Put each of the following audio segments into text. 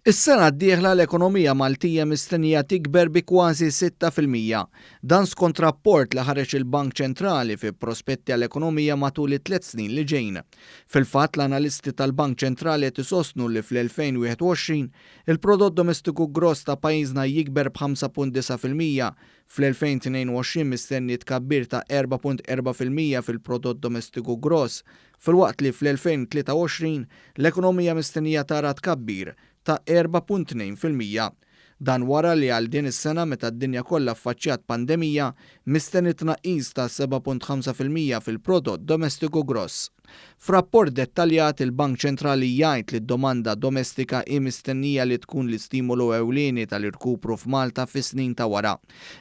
Is-sena d-dieħla l-ekonomija Maltija mistennija tikber bi kważi sitta fil-mija. Dan skont rapport li ħareġ il-Bank Ċentrali fi prospetti għall-ekonomija matul it-tliet snin li ġejn. Fil-fatt, l-analisti tal-Bank Ċentrali qed isostnu li fl-2021, il-prodott domestiku gross ta' pajjiżna jikber b' 5.9 fil-mija, Fl-2022 mistenni tkabbir ta' 4.4 fil-mija fil-prodott domestiku gross, filwaqt li fl-2023 l-ekonomija mistennija tara tkabbir ta' 4.2 fil-mija. Dan wara li għal din is-sena meta d-dinja kollha ffaċċjat pandemija, mistenni tnaqqis ta' 7.5 fil-mija fil-prodott domestiku gross. F'rapport dettaljat, il-Bank Ċentrali jgħid li d-domanda domestika hi mistennija li tkun l-istimolu ewlieni tal-irkupru f'Malta fis-snin ta' wara.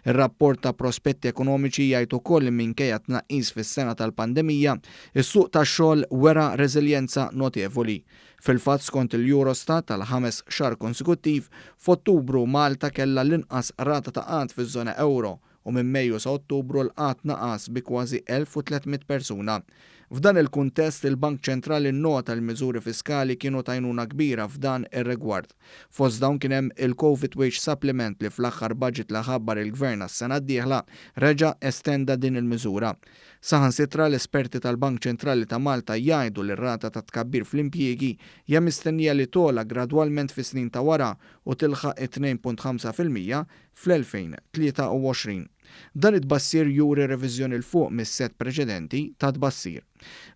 Ir-rapport ta' prospetti ekonomiċi jgħid ukoll li minkejja t-tnaqqis fis-sena tal-pandemija, is-suq tax-xogħol wera reżiljenza notevoli. Fil-fatt, skont il-Eurostat, għall-ħames xahar konsekuttiv, f'Ottubru Malta kellha l-inqas rata ta' qgħad fiż-żona ewro, u minn Mejju sa Ottubru l-qgħad naqas bi kważi 1,300 persuna. F'dan il-kuntest, il-Bank Ċentrali nnota li miżuri fiskali kienu t'għajnuna kbira f'dan ir-rigward. Fost dawn kien hemm il-Covid Wage Supplement li fl-aħħar baġit li ħabbar il-Gvern għas-sena d-dieħla reġa' estenda din il-miżura. Saħansitra l-esperti tal-Bank Ċentrali ta' Malta jgħidu li r-rata tat-tkabbir fl-impjiegi hija mistennija li togħla gradwalment fis-snin ta' wara u tilħaq it-2.5 fil-mija fl-2023. Dan it-tbassir juri reviżjoni 'l fuq mis-sett preċedenti ta' tbassir.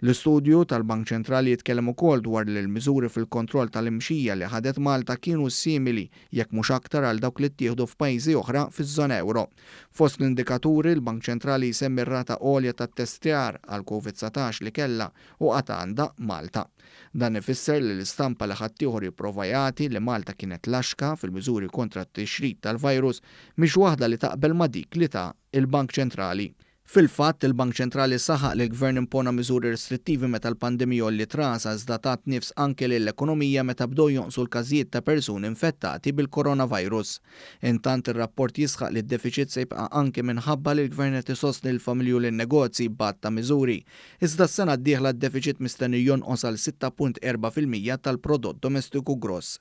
L-istudju tal-Bank Ċentrali jitkellem ukoll dwar li l-miżuri fil-kontroll tal-imxija li ħadet Malta kienu simili, jekk mhux aktar għal dawk li ttieħdu f'pajjiżi oħra fiż-żona ewro. Fost l-indikaturi, l-Bank Ċentrali jsemmi r-rata għolja ta' ttestjar għall-Covid-dsatax li kellha, u għad għandha, Malta. Dan ifisser li l-istampa li ħaddieħor jipprova jagħti li Malta kienet laxka fil-miżuri kontra t-tixrid tal-virus mhix waħda li taqbel ma' dik li ta l-Bank Ċentrali. Fil-fatt, il-Bank Ċentrali saħaq li l-Gvern impona miżuri restrittivi meta l-pandemija għolliet rasha iżda tat nifs anke lill-ekonomija meta bdew jonqsu l-każijiet ta' persuni infettati bil-coronavirus. Intant, ir-rapport jisħaq li d-defiċit se jibqa' anke minħabba li l-Gvern qed isostni lill-familji u lin-negozji b'għadd ta' miżuri Iżda s-sena d-dieħla d-defiċit mistenni jonqos għal 6.4 fil-mija tal-Prodott Domestiku Gross.